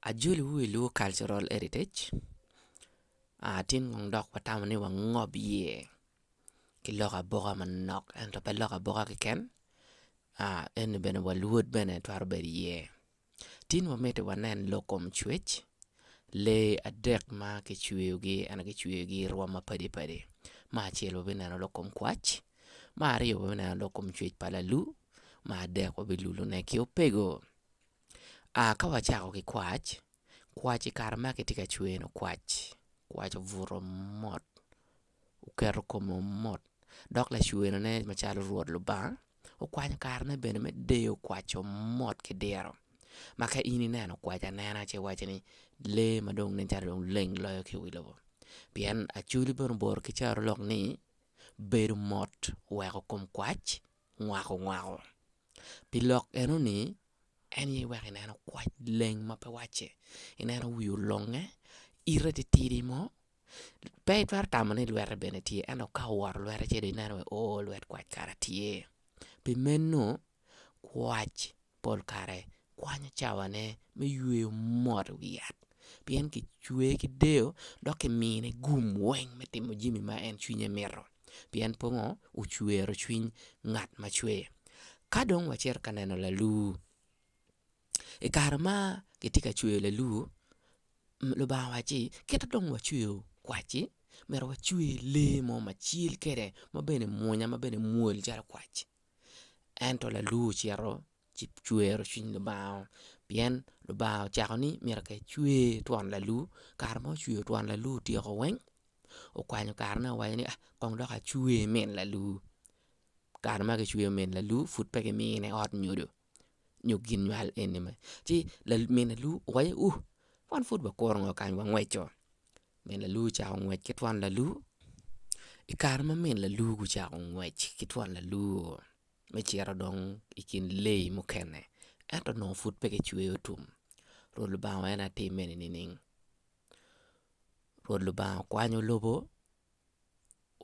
Ajoliwu i lwongo cultural heritage tye nongo dok watamo ni wangob iye ki lok aboka manok ento pe lok aboka keken ento bene wa luot bene twero bedo iye tye nongo miti wanen lok kom cwec lee adek ma kicweyogi ento kicweyogi i rwom mapadi padi me acel wabineno lok kom kwac Me aryo me neno dok kom cwec pa lalu, me adek wa bilulu ne ki opego. Aa ka wacako ki kwac, kwac i kare ma kitye ka cweno kwac, kwac obuto mot oketo kome mot dok lacweno ne macalo Rwot Lubanga okwanyo kare ne bene me deyo kwac omot ki diro. Ma ka in ineno kwac anena ci iwaco ni lee ma dong nen calo dong leng loyo ki i wi lobo pien acoli bene oboro ki caro lok ni. bedo mot weko kom kwac ngwako ngwako. Pi lok enoni, en aye iweko ineno kwac leng ma pe wacce, ineno wii olonge, ite titidi mo, pe itwero tamo ni lwette bene tye ento ka owoto lwette ce dong ineno wai oo lwet kwac kara tye. Pi meno Kwac pol kare kwanyo cawane me yweyo mot i wi yat pien kicweye ki deyo dok kimine gum weng me timo jami ma en cwinye mito pien pe onongo ocwero cwiny ngat ma cweye. Ka dong wacito ka neno lalur, i kare ma kitye ka cweyo lalur Lubanga owaco ni kit ma wacweyo kwac-ci myero wacwe lee mo ma cal kwede ma bene mwonya ma bene mwol calo kwac. ento lalur ocito ci cwero cwiny Lubanga-o pien Lubanga ocako ni myero ka ecwer twon lalur kare ma ocwer twon lalur otyeko weng okwanyo karene owaco ni kong dok acwer min lalur kare ma kicweyo min lalur pud pe kimine ot nyodo nyo gin nywal eni mere ci min lalur owaco ni uu wan pud wakuru ngo kany wangweco Min lalur ocako ngwec ki twon lalur, i kare ma min lalur gucako ngwec ki twon lalur me cito dong i kin leyi mukene ento onongo pud pe kicweyo tum, Rwot Lubanga wa en aye timme-ni nining? Rwot Lubanga okwanyo lobo,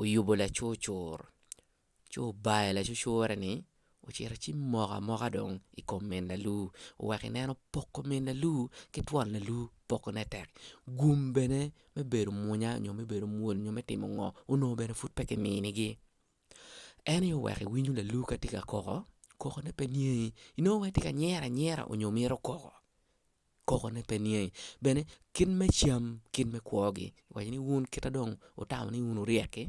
oyubo lacurcur. Ci obayo lacucure-ni, ocito ci moko amoka dong i kom min lalu, oweko i neno poko min lalu ki twon lalu pokone tek. Gum bene me bedo munya nyo me bedo mwol nyo me timo ngo onongo bene pud pe ki minigi. En aye oweko i winyo lalu ka tye ka koko, kokone pe niangi, inongo wai tye ka nyero anyera onyo mito koko. kokone pe niye i bene kit me cam kit me kwogi waci ni wun kita dong wutamo ni wun wuryek-ki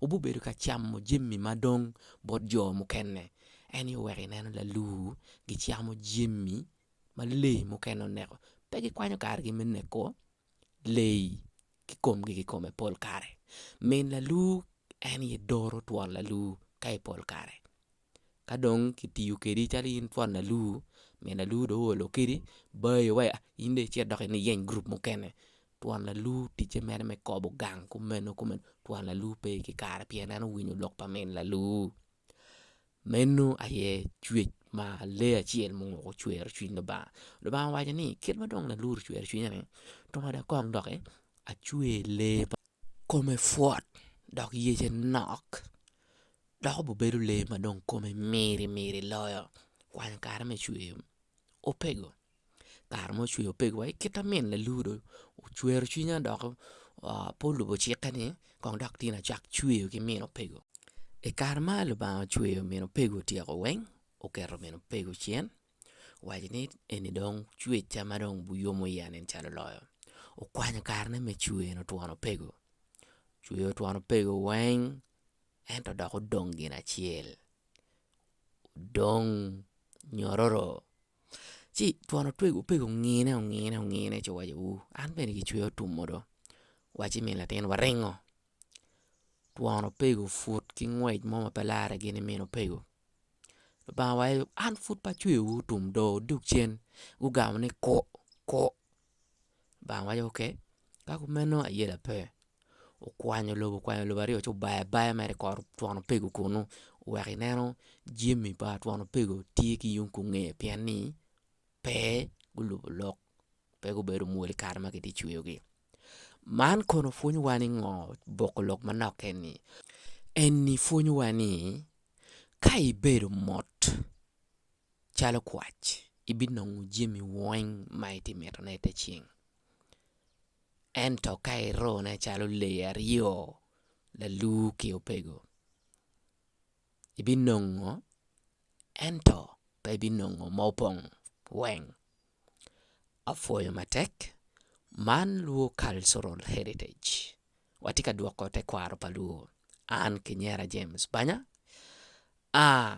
wubibedo ka camo jami ma dong bot jo mukene ento i wek ineno laluu gicamo jami ma lee mukene oneko pe gikwanyo kargi me neko. leyi ki komgi ki kome pol kare. Min lalur en aye doro twon lalur ka i pol kare ka dong ki tiyo kwedi calo in twon lalur min lalur dong oolo kwedi bayo wa in dong icit dok iyeny gurup mukene twon lalur ticce mere me kobo gang kumeno kumeno twon lalur pe ki kare pien en owinyo lok pa min lalur. Meno aye cwec ma lee acel ma onongo ocwero cwiny Lubanga. Lubanga owaco ni kit ma dong Lalur ocwero cwinye ni tung ada kong doki acwer lee ma kome pwot dok yece nok dok obibedo lee ma kome miri miri loyo kwanyo kare me cwer opego. kare ma ocweyo pegi wa ki kit ma min lalur dong ocwero cwinya dok pe olubo cikke ni kong dok tyen acak cweyo ki min opego i kare ma Lubanga ocweyo min opego otyeko weng oketo min opego cen owaco ni eni dong cwecca ma dong wuyomo iya ni cal oloyo okwanyo kare ne me cweno twon opego ocweyo twon opego weng ento dok odong gin acel odong nyororo ci twon otwego opego ongine ongine ongine ci owaco uu an bene gicweya otumo do wacci min latin waringo twon opego put ki ngwec mo ma pe lare gin imin opego lubanga waco an pud pe acweyowu otum do dog cen gugamo ni ku ku Lubanga waco ok ka kumeno aye lape okwanyo lobo okwanyo lobo aryo ci obayo abaya mere i kor twon opego kunu wek ineno jami pa twon opego tye ki yung kunge pien ni pe gulubo lok pe gubedo mwol i kare ma kitye ka cweyogi man kono pwonyowa ni ngo boko lok manok keni eni pwonyowa ni ka ibedo mot Calo kwac, ibinongo jami weng ma itye ka mitone i te ceng. Ento ka irone calo lee aryo, lalur ki opego, ibinongo ento pe ibinongo ma opong weng. Apwoyo matek, man lur cultural heritage. Watye ka dwoko tekwaro pa lur. An Kinyera James Banya aa